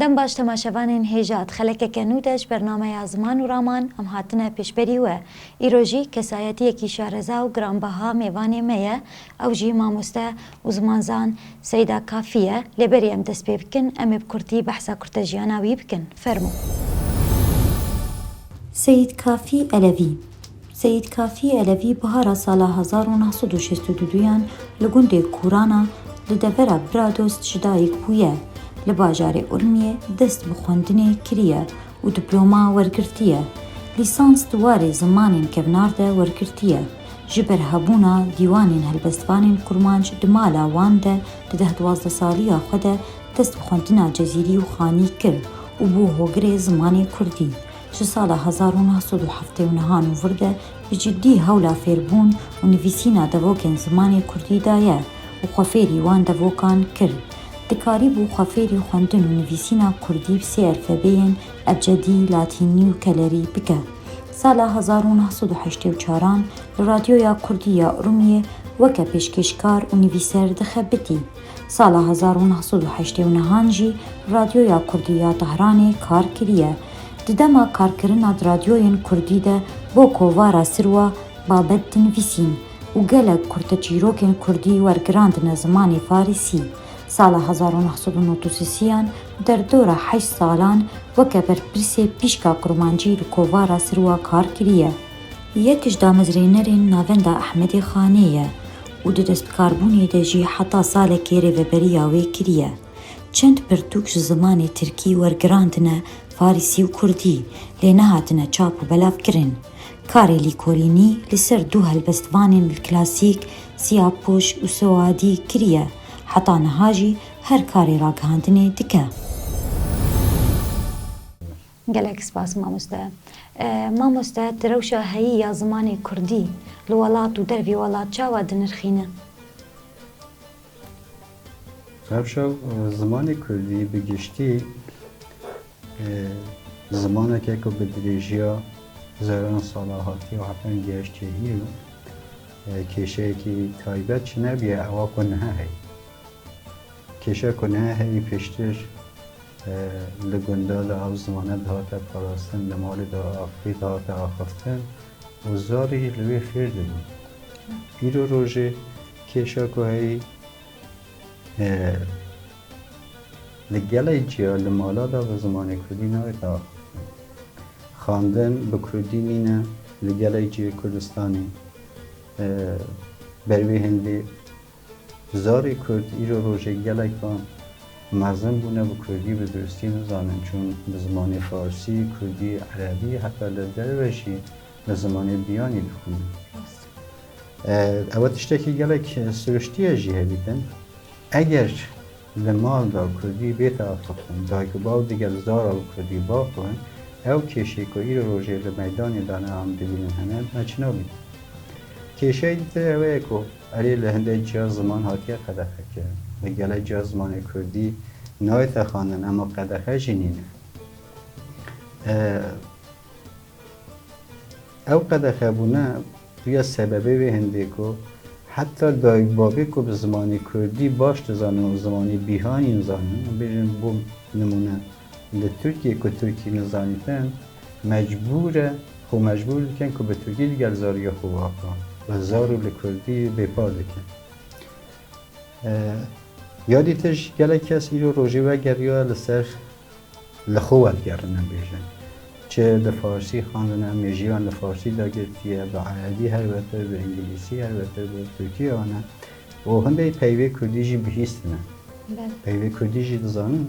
Dem baş temaşevanên Hêjat, xelekeke nû de ji ber nameya Ziman û Raman em hatine pêşberî we. Îro jî kesayetiyekî şareza û giranbeha mêvanê me ye, ew jî mamoste û zimanzan Seyda Kafî ye. Lê berî em dest pê bikin, em ê bi kurtî behsa kurtejiyana wî bikin. Fermo. Seyîd Kafî Elevî, Seyîd Kafî Elevî bihara sala hezar û neh sed û şêst û duduyan li gundê Kûrana li devera Biradost ji dayik bûye. Li bajarê Urmiyê dest bi xwendinê kiriye û diploma wergirtiye. Lîsans di warê zimanên kevnar de wergirtiye. Ji ber hebûna dîwanên helbestvanên kurmanc di mala wan de di deh duwazdeh saliya xwe de dest bi xwendina cezîrî û xanî kir û bû hogirê zimanê kurdî. Ji sala hezar û neh sed û heftê û niha nû vir de bi ciddî hewla fêrbûn û nivîsîna devokên zimanê kurdî daye û xwefêrî wan devokan kir. Dikarîbû xwefêrî xwendin û nivîsîna kurdî bi sê elfebeyên, ebcedî, latînî û kelerî, bike. Sala hezar û neh sed û heştê û çar an li Radyoya Kurdî ya Urmiyê weke pêşkêşkar û nivîser dixe bitî. Sala hezar û neh sed û heştê û nehan jî Radyoya Kurdî ya Tehranê kar kiriye. Di dema karkirina di radyoyên Kurdî de bo kovara Sirwa babet dinivîsîn û gelek kurteçîrokên Kurdî wergirandine zimanê Farisî. Sala hezar û neh sed û nod û sisiyan derdora heşt salan weke berpirsê pîşka kurmancî li kovara Sirwa kar kiriye. Yek ji damezrênerên Navenda Ehmedê Xanê ye. û di destbikarbûnê de jî heta salekê rêveberiya wê kiriye. Çend pirtûk ji zimanê tirkî wergirandine farîsî û kurdî lê nehatine çap û belavkirin. Karê lîkolînî li ser du helbestvanên li klasîk, Sîyapoş û Soadî, kiriye, heta niha jî her karê ragihandinê dike. Gelek spas mamoste. Mamoste tu rewşa heyî ya zimanê kurdî li welat û dervê welat çawa dinirxîne? Rewşa zimanê kurdî bi giştî zimaneke ku bi dirêjiya hezarana sala hatiye û hetan gihiştê îro kêşeyekî taybet ji nebiye ewa ku niha heye. Kêşa ku ne herî pêştir li gunda li Awzimane dihate parastin, li malê de axivî dihate axiftin û zarî li wê fêr dibû. Îro rojê kêşa ku heyî li gelek ciya li mala de bi zimanê kurdî nayê diaxiftin. Xandin bi kurdî nîne li gelek cihê Kurdistanê ber wê hêndê Zarê Kurd îro rojek gelek van mezin bûne bi Kurdî bi duristî nizanin çûn bi zimanê Farsî, Kurdî, Erebî heta li derve jî bi zimanê biyanî dixwînin. Ew tiştekî gelek siruştî ye jî hevdîtin. Eger li mal de Kurdî bête axiftin, dayik û bav digel zara bi Kurdî biaxivin, ew kêşê ku îro rojê li meydanê de ne em dibînin hene, me çi nabînin. Kêşeyê dîtir ew ye ku, Erê li hindê çar ziman hatiye qedexe kirin. Li gelê çar zimanê kurdî nayê texandin ema qedexe jî nîne. Ew qedexebûne bûye sebebê wê hindê ku heta dayik bavê ku bi zimanê kurdî baş dizanin û zimanê bîhanîn zanin, bêjin bû nimûne, Li Tirkiyê ku Tirkî nizanîtin, mecbûr e xwe mecbûr dikin ku bi Tirkî li gel zariya xwe waqa ve zar û li Kurdî bêpar dikin. Ya dî tij gelek kes îro rojê wegeriya li ser li xwe wergerinin bêjin. Çi bi farsî xwendine, mêjiyan li farsî de girtiye, bi erebî her wetir, bi îngilîsî her wetir, bi tirkî ane û hindê peyvê kurdî jî bihîstine. Peyvê kurdî jî dizanin.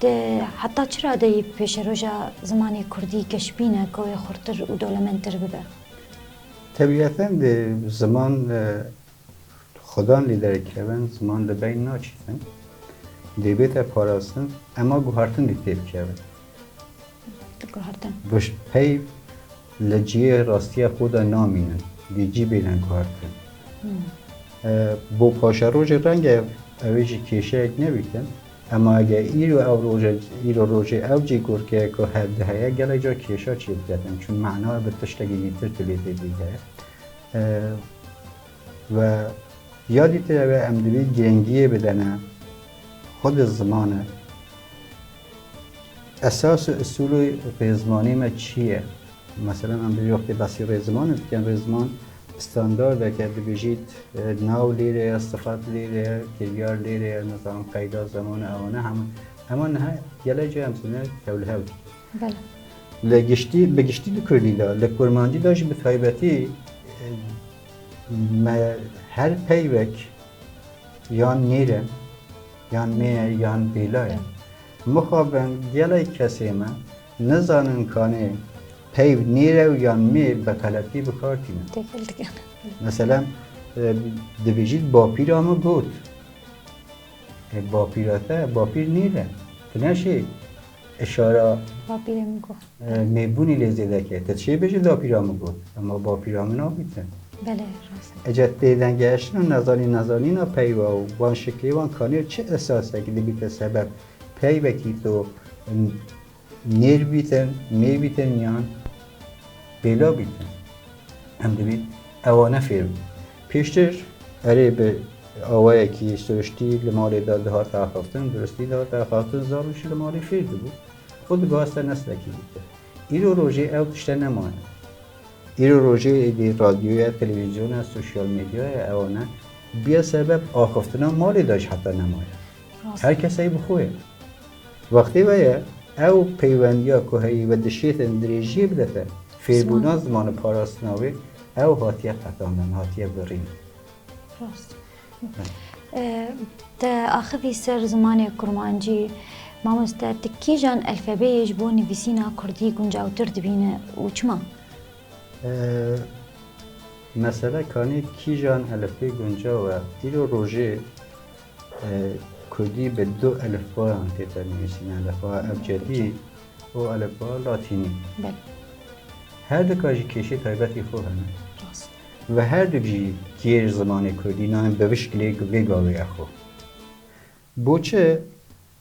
Te heta çi radeyî pêşeroja zimanê kurdî geşbîn e ku wê xurtir û dolementtir bibe? Tebîeten dê ziman xudan lê derkevin, ziman li beyn naçîtin. Dê bête parastin, ema guhartin dê têbikeve. Guhartin. Pey li ciyê rastiya xwe de namînin, dê cî bêne guhartin. Bo paşerojê renge ew ê jî kêşeyek nebîtin. Hema ge îro ew roj e, îro rojê ew cî gorkê ye ku hevdî heye, gelek car kêşa çê diketin, çün mana bi tiştekî dîtir tibê tê dîte. We ya dîtir ew e em dibî girengiyê bidene xwe di zimane. Esas û usûlê pêzmanî me çi ye? Meselan em bi wextê basî rê zimanê dikin, rê ziman standardeke dibêjît nav lêre ye, sifat lêre ye, kêliyar lêre ye, nizanim qeyda zemane ewane hemû hema niha gelek cî em sîne hewl hewl dikin. Li giştî bi giştî di kurdî de li kurmancî de jî bi taybetî me her peyvek yan nêre yan mê ye yan bêla ye. Mixabin gelek kesê me Nizanin kanê peyv nîrew yan mê bi xeletî bi kar tînin. Têkil dikin. Mesela dibêjît bapîra min got. E bapîra te bapîr nîre. Tu neşê işara Bapîrê min got. e, mêbûnî lê zêde ke. Te çê bêjî dapîra min got. Ema bapîra min nabî te. Belê rast. Ece têdengeştin û nezanîn nezanîna peyva û van şiklê wan kanê çi esasek dibîte sebeb Pey vekî to nêr bîtin, mê bîtin yan bêlav bîtin. Em divê ewane fêr bûn. Pêştir erê bi awayekî siriştî li malê de dihat axaftin, duristî dihat axaftin, zarok jî li malê fêr dibû û diguhaste neslekî dîtin. Îro rojê ew tişte nemane. Îro rojê êdî radyoya, televîzyona, sosyal medyaya ewane bûye sebeb axaftina malê de jî heta nemaye. Her keseyî bi xwe ye. Wextê ve ye ew peywendiya ku heyî ve dişêtin dirêjiyê bidefe fêrbûna ziman û parastina wê, ew hatiye qetandin, hatiye birîn. Rast. Te axivî ser zimanê kurmancî. Mamoste ti kîjan elfebeyê ji bo nivîsîna kurdî guncawtir dibîne û çima? Mesele kanê kîjan elifbê guncaw e, îro rojê Kurdî bi du elifbayan tê tênivîsîn, elifbaya ebcedî û elifbaya latînî. Her dika jî kêşê taybetî xwe hene. Ve her duk jî kêr zimanê kurdî nayên bi vişkilêk vê gavê ye xwe. Boçi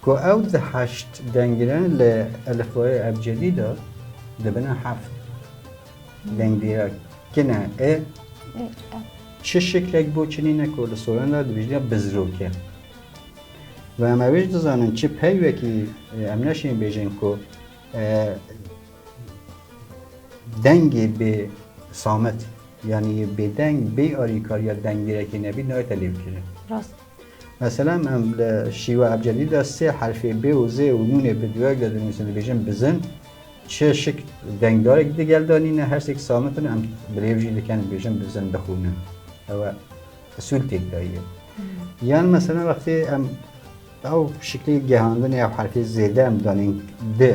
Ku ew di heşt dengîre li elifbayê ebcedî de dibine heft. Dengîra kin e, ê, e. Çi şiklek bo çi nîne ku li soran de dibijne bizrok e. Ve em ew jî dizanin çi peyvekî em neşên bêjin ku dengê bê samet yanî bêdeng bê alîkariya dengîrekê nebî nayete lêvkirin. Rast. Meselem em li şîwe ebcedî de sê herfê bê û zê û nûnê bi duek de dinivîsin, dibêjin bizin. Çi şik dengdarek digel de nîne, her sêk samitin em bi rêv jî dikin dibêjin bizin, bixwînin. Ew e usûl têk daye. Yan meselem wextê em ew şiklê gehandinê ew herfê zêde em danên di,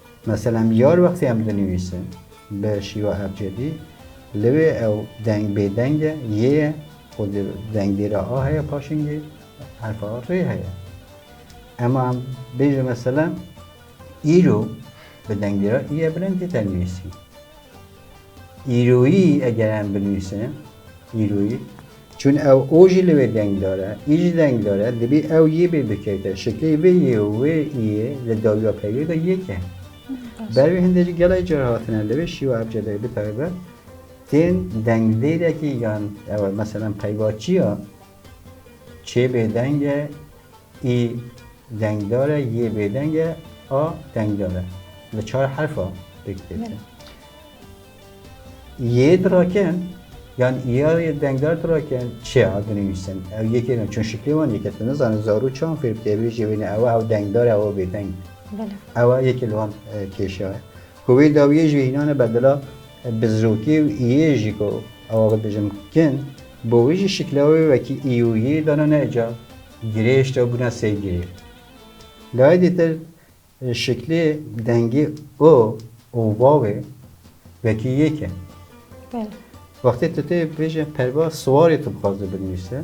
Mesela mijar wextê em dinivîsin bi şîva ebcedî li wê ew deng bêdeng e, yê ye û di dengdê re a heye paşingê herfa rê heye. Ema em bêje mesela îro bi dengdê re î ye bilind tê tenivîsîn. Îroyî eger em binivîsin, îroyî, çün ew o jî li wê dengdar e, î jî dengdar e, dibî ew yê bê bikevte. Şeklê vê yê û wê îyê li dawiya peyvê de yek e. Ber wê hindê jî gelek car hatine li vê şîwa ebcedê bitaybet tên dengdêrekî yan ew e, meselan peyva çi ya, Çê bêdeng e, î dengdar e, yê bêdeng e, a dengdar e. Li çar herfa pêk têtin. Yê dirakin, yan îya yê dengdar dirakin, çê a dinivîsin. Ew yekê ne, çun şiklê wan yek e. Tu nizanin zarok çawan fêr bike, bêjî wê ne ew e, ew dengdar e, ew bêdeng. Bela. Ew e yekê li wan e, kêşa e. Ku wê dawiyê jî hînane ber dila bizrokê û iyê jî ku ew ê bijin kin. Bo wê jî şikla wê wekî î û yê dana ne ca girêşt ew bûna sey girê. Laidê ter şiklê dengê o û vavê wekî yek e. Belê. Wextê tu tê bêje perva siwarê tu bixwaze binivîse.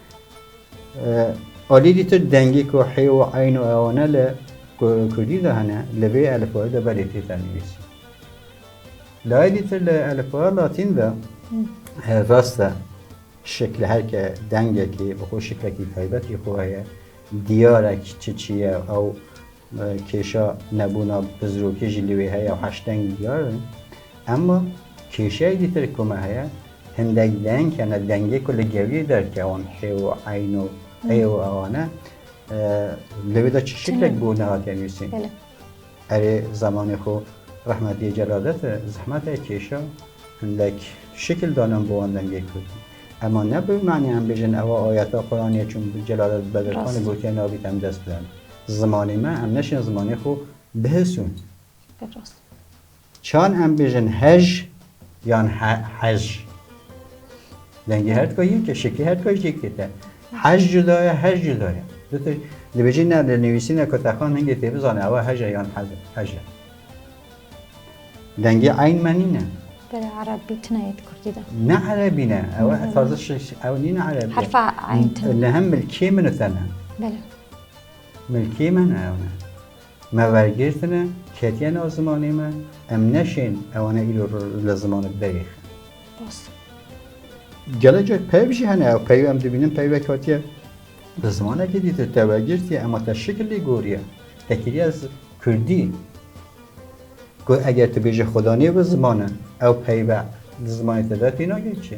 Alî dî tu dengê ku hê û eyn û eone li kurdî de hene li vê elifbayê de belê tê tênivîsî. Layê dî tu li elifbaya latîn de rast e şekle her ke dengekê bi xwe şeklekî taybet jî xwe heye diyar e çi çi ye ew Kêşa nebûna pizrokê jî li wê heye û heşt deng diyar in. Emma kêşeyekî tire ku me heye, hindek deng hene, dengê ku li gewîyê derkewin, hê û eyn û ê û ewan e. Li wê de çi şiklek bû nehatiye nûsîn. Erê zemanê xwe rehmetiyê Celade de zehmet e kêşa hindek şikil danan bi wan dengê kurdî. Emma ne bi manê em bêjin ewa ayeta Quranê ye çunku Celade Bedirxanê gotiye nabît em dest bidin. Zimanê me em neşên zimanê xwe bihisûn. Pir rast. Çan em bêjin hej yan hej? Dengê her tika yek e, şekê her tika jî yekê te. Hej cuda ye, hej cuda ye. Dibêjin ne li nivîsîne ku texan hingê tê bizane ewa hej e yan hej e. Dengê eyn me nîne. Bere erebî tune yê di kurdî de. Ne erebî ne. Ew taze ew nîne erebî. Herfa eyn tune. Li hemil kê min û te ne. Bele. Milkê me ne ew ne. Me wergirtine, ketiye nav zimanê me, em neşên ewane îro li zimanek derêxin. Rast e. Gelekî peyv jî hene ew peyv em dibînin peyvek hatiye li zimanekî dî te te wergirtiye ema te şikil lê goriye. Te kiriye kurdî. Ku eger tu bêje xweda nê bi ziman e ew peyve di zimanê te de tênagê çi?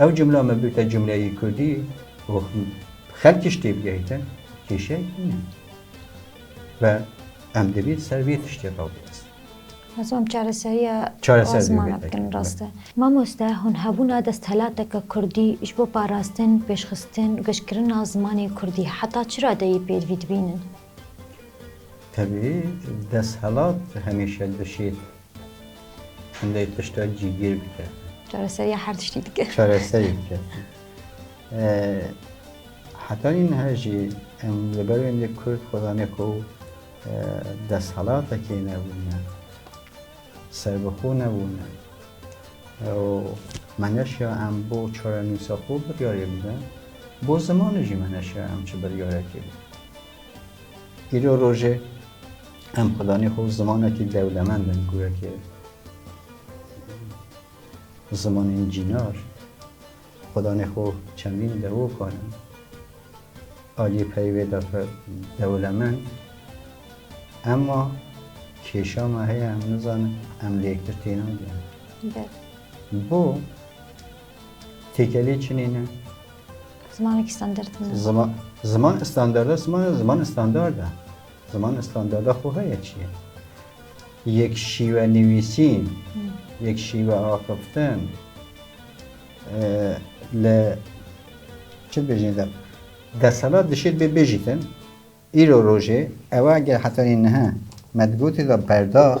Ew cumla me bûte cumleyî kurdî û xelkî ji tê bigihîtin kêşeyek nîne ve em divî ser vê tiştê xwe biwestin. Ez em çareseriya Çareser ziman bikin rast e. Mamoste hûn hebûna desthilateke kurdî ji bo parastin, pêşxistin û geşkirina zimanê kurdî heta çira deyî pêdivî dibînin? Tevî desthilat hemîşe dişê lê tişta cîgîr bike. Çareseriya her tiştî dike. Çareserî dike. Heta nî niha jî em li ber wê kurd xwe zanê ku desthilatekê nebûne. Serbixwe nebûne û me neşiya em bo çarenûsa xwe biryarê bidin, bo zimanê jî me neşiya em çi biryarekê bidin. Îro rojê em xwedanî xwe zimanekî dewlemend in gurekê zimanên cînar. Xwedanê xwe çendîn devokan in. Aliyê peyê wê dake dewlemend. Emma kêşa me heye em nizanin em li yektir tênagêrin. Bo têkelê çinê ne. Zimanekî standard ne. Ziman standard e, ziman standard e. Ziman standarda xwe heye çi ye? Yek şîwe nivîsîn, yek şîwe axiftin li çi bêjin de deselat dişêt bê bêjîtin îro rojê ew eger hetanî niha me di gotê de berdax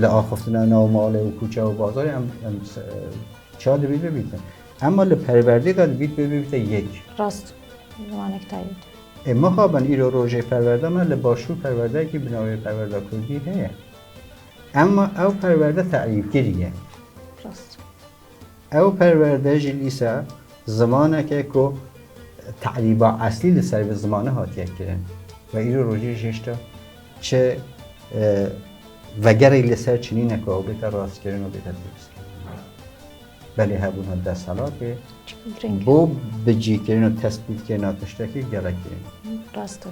Li axiftina nav malê û kûçe û bazarê em em çar dibît bibîtin. Emma li perwerdê de dibît bibîte yek. Rast zimanek taybet. Ê mixabin îro rojê perwerda me li başûr perwerdeyekî bi navê Perwerda Kurdî heye. Emma ew perwerde terîfkirî ye. Rast. Ew perwerde jî dîsa zimanek e ku terîba eslî li ser vê zimane hatiye kirin ve îro rojî jî hişta çi vegerek li ser çinîne ku ew bêta rastkirin û bêta dûristkirin. Belê hebûna desthilatê bo bicîkirin û tespîtkirina tiştekî gelek girîng e. Rast e.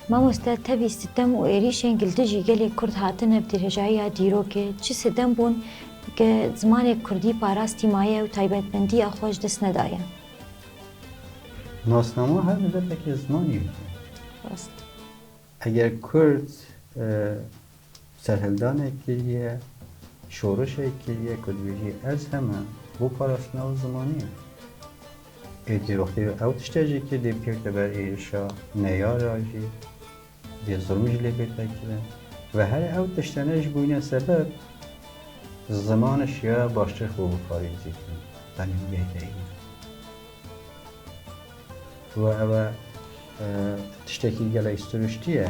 Mamoste tevî sitem û êrîşên li dijî gelê Kurd hatine bi dirêjayiya dîrokê çi sitem bûn ke zimanê Kurdî parastî maye û taybetmendiya xwe ji dest nedaye. Nasnama her mileteke zimanê dike. Rast. Eger Kurd Serhildanê kiriye, şorişê kiriye ku dibêjî ez heme bo parastina wê zimanî. Êdî wextî ew tiştê jî kir dê bikevite ber êrişa neyara jî, dê zilm jî lê bête kirin. Ve here ew tiştene jî bûyne sebeb zimani şiyaya baştir xwe biparêzî kirin tenê wê deyî. Ve ew e tiştekî gelek siruştî ye.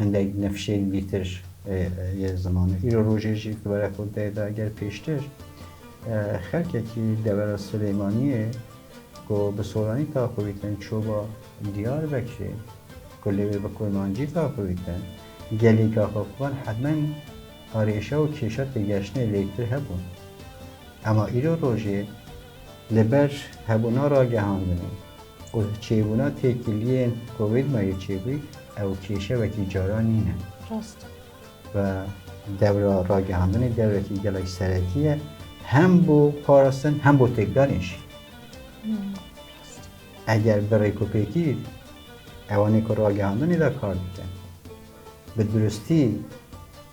Hindek nifşên gîtir yê zimanê îro rojê jî di were xwe de da ger pêştir xelkekî devera Silêmaniyê ku bi soranî taxivîtin çûba Diyarbekirê ku lê wê bi kurmancî taxivîtin gelîka xwe xwend hetmen arêşa û kêşa têgeştinê lê kir hebûn ema îro rojê li ber hebûna ragehandinê Ku çêbûna têkiliyên Covid ma yê çêbû ew kêşe wekî caran nîne. Rast. Ve dewra ragihandinê dewrekî gelek serekî ye hem bo parastin hem bo têkdarên jî. Eger bi rêkûpêkî ewanê ku ragihandinê de kar dikin bi duristî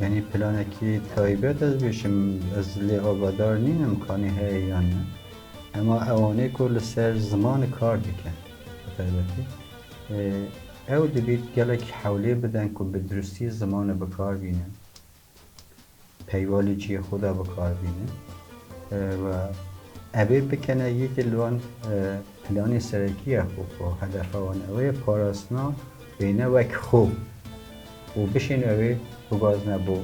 Yanî planekî taybet ez bêjim ez lê agadar nînim kanî heye yan ne. Hema ewanê ku li ser ziman kar dikin bi taybetî ew dibît gelekî hewlê bidin ku bi dirustî ziman bikar bînin. peyvalê cihê xwe de bikar bînin û evê bikene yekê li wan planê serekî ye xwe ku hedefa wan ew ê parastina bêne wek xwe û bişên ew ê bigazine bo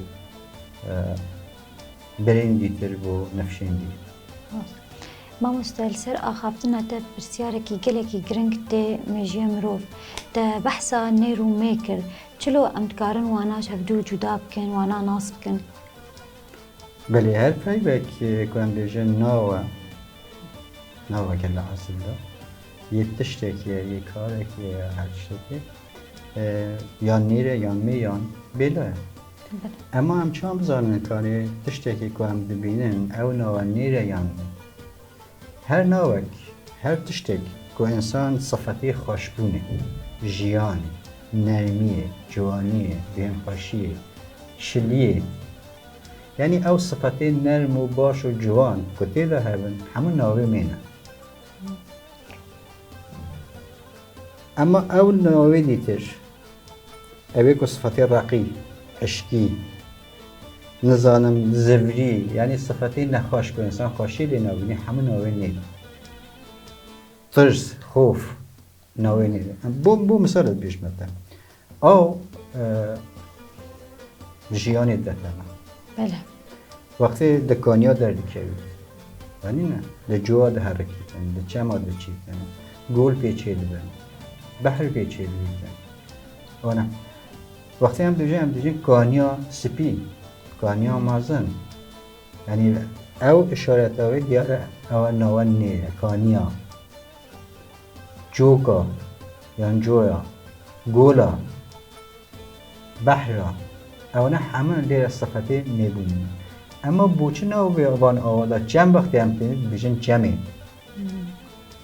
birên dîtir bo nifşên dîtir. Mamoste li ser axaftina te pirsyarekî gelekî giring tê mêjiya mirov. Te behsa nêr û mê kir. Çilo em dikarin wana ji hev du cuda bikin, wana nas bikin? Belê her peyvek ku em bêjin nawe, naveke li esilda yê tiştekî ye, yê karekî ye ya her tiştekî yan nîr e yan mî yan bêlo ye. Ema em çiwan bizanin karê tiştekî ku em dibînin ew nawe nîr e yan mî? Her navek, her tiştek ku însan sifetê xweşbûnê, jiyanê, nermiyê, ciwaniyê, bêhnxweşiyê, şiliyê yanî ew sifetê nerm û baş û ciwan ku tê de hebin hemû navê wê ne. Ema ew navê dîtir, ew ê ku sifetê reqî, eşkî, Nizanim zevlî yanî sifetê nexweş ku însan xweşî lê nabînî hemû navên nê de tirs, xof navên nê de bo bo misal dibêjim me te aw jiyanê te teme. Bele. Wextê di kaniya derdikevî Anîne li cowa diherikî te li çema diçî te gol pê çêdibe behr pê çêdibî te. Ona. Wextê em dijîn em dijîn kaniya spî, kaniya mezin. Yanî ew işareta wê diyar e ewa nawa nê ye kaniya. Coka yan coya, gola, behra ew ne heme lê re sifetê nêbûn. Ema boçi ne wê van awa da çem wextê em têne dijîn çemê.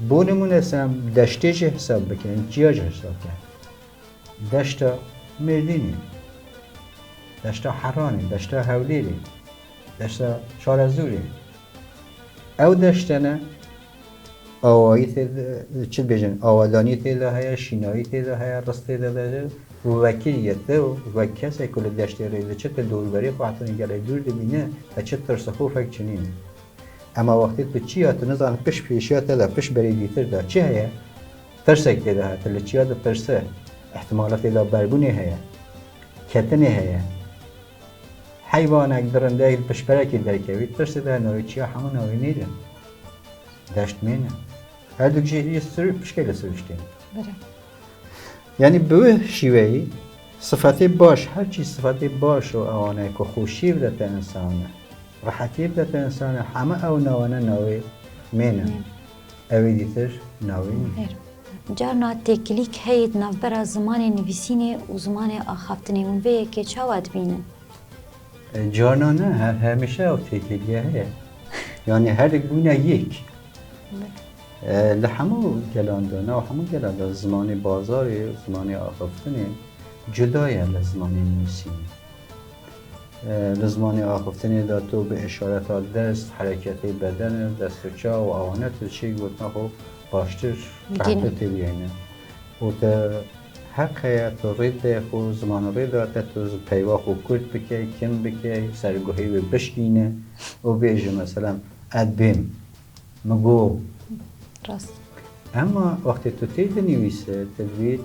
Bo nimûne se em deştê jî hesab bikin, em çiya jî hesab bikin. Deşta Mêrdînê, deşta Heranê, deşta Hewlêrê, deşta Çarezûrê. Ew deştene awayî tê çi dibêjin, awedanî tê de heye, şînayî tê de heye, risk tê de de û wekî yê te û wek kesê ku li deştê rê diçe te dorûberê xwe hetanî gelê dûr dibîne te çi tirsixofek çinî. Ema wextê tu çiya tu nizane pişt pêşiya te de pişt berê dîtir de çi heye? Pirsek tê de heye, tu li çiya dipirse, îhtimala tê de berbûnê heye, ketinê heye. Heywanek, dirindeyek li piştperekê derkevî, pirsê de navê çiya hemû navê nêde. Deşt mêne. Herdûk jî hêjî sirû pişkê li sirûştê ne. Bire. Yanî bi wê şîweyî sifetê baş, her çî sifetê baş û ewanayê ku xweşiyê bide te însan e. Rehetiyê bide pê însanê heme ew nawane navê mêr in. Ewê dîtir navê mêr. Carna têkilîk heye di navbera zimanê nivîsînê û zimanê axaftinê. Hûn vê yekê çawa dibînin? Carna ne, her hemişe ew têkilîya heye. Yanî herdik bûne yek. Li hemû gelan de, nav hemû gelan de zimanê bazarê û zimanê axaftinê cuda ye li zimanê nivîsînê. Di zimanê axiftinê de tu bi îşareta dest, hereketê bedene, dest û çav û awane tu diçî gotina xwe baştir behrte tê bigihîne. Û te heq heye tu rê bide yê xwe, ziman rê date tu peyva xwe kurt bike, kin bike, serguhê wê bişkîne û bêje meselan ez bêm. Min got. Rast. Emma wextê tu tê dinivîse te divêt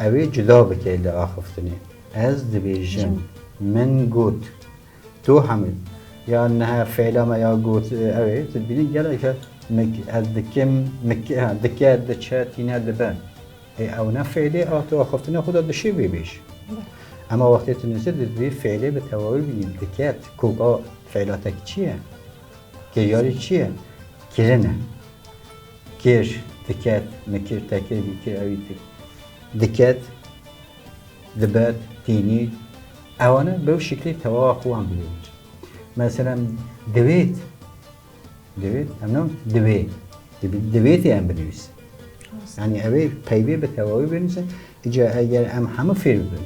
ew ê cuda bike li axiftinê. Ez dibêjim. Min got. Tu hemû ya niha fêla me ya got ew ê tu dibînî geleke mik ez dikim mik dike diçe tîne dibe. Ê ew ne fêlê a tu axiftinê xwe de dişê bêbêj. Emma wextê tu nivîse tu divê fêlê bi tewahû bînî diket koka fêlatek çi ye? Kêyarî çi ye? Kirin e. Kêr diket, mikir, tekir, bîkir, ewî tî. Diket, dibet, tînî. Ewana bew şiklê tewawa xwe wan bigihîn. Meselem divêt, divêt, em ne divê, divêtê em binivîsin. Yani ev ê peyvê bi tewawî binivîsin. Îca eger em hemû fêr bibin,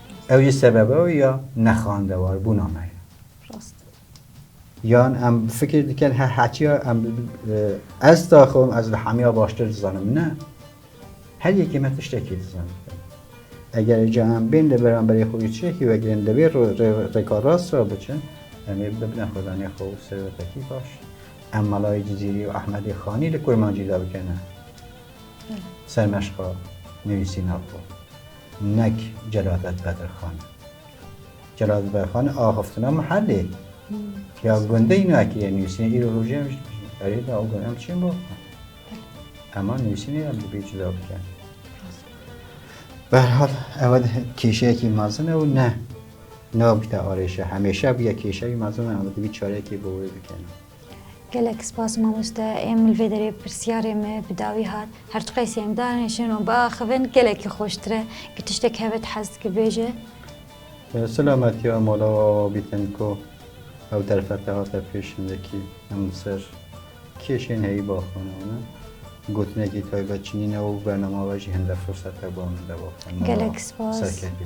Ew jî sebeba wî ya nexandewarbûna me ye. Rast. Yan em fikir dikin he hetiya em ez taxim ez li hemiya baştir dizanim ne. Her yekê me tiştekî dizanin. Eger ca em bên li beramberê xwe tiştekî vegirin li vê rêka rast re biçin em ê bibne xwedanê xwe û serwetekî baş. Em Malayê Cizîrî û Ehmedê Xanî li Kurmancî de bikene sermeşqa nivîsîna xwe. Nek Celadet Bedirxan e. Celadet Bedirxan e axiftina Mihelê. Ya gundê îno ekirîye nûsînê îro rojê em jî erê de ew gund em çiyên bo. Ema nûsînê em dibê cuda bike. Berhal ew kêşeyekî mezin e û ne nabite arêşe hemêşe bûye kêşeyî mezin e em dibî çareyekê bo wê bikene. Gelek spas mamoste em li vê derê pirsyarê me bi dawî hat. Her çi qeysî em danişin û biaxivin gelekî xweştir e. Gi tiştek heve ti hez dikî bêje. Silametiya mala û awa bîtin ku ew derfete hate pêş hindekî em li ser kêşên heyî ba xwe nayînin. Gotinekî taybet çinîne û bernama we jî hinde firsete ba min de ba xwe. Mala Gelek spas. serkefî.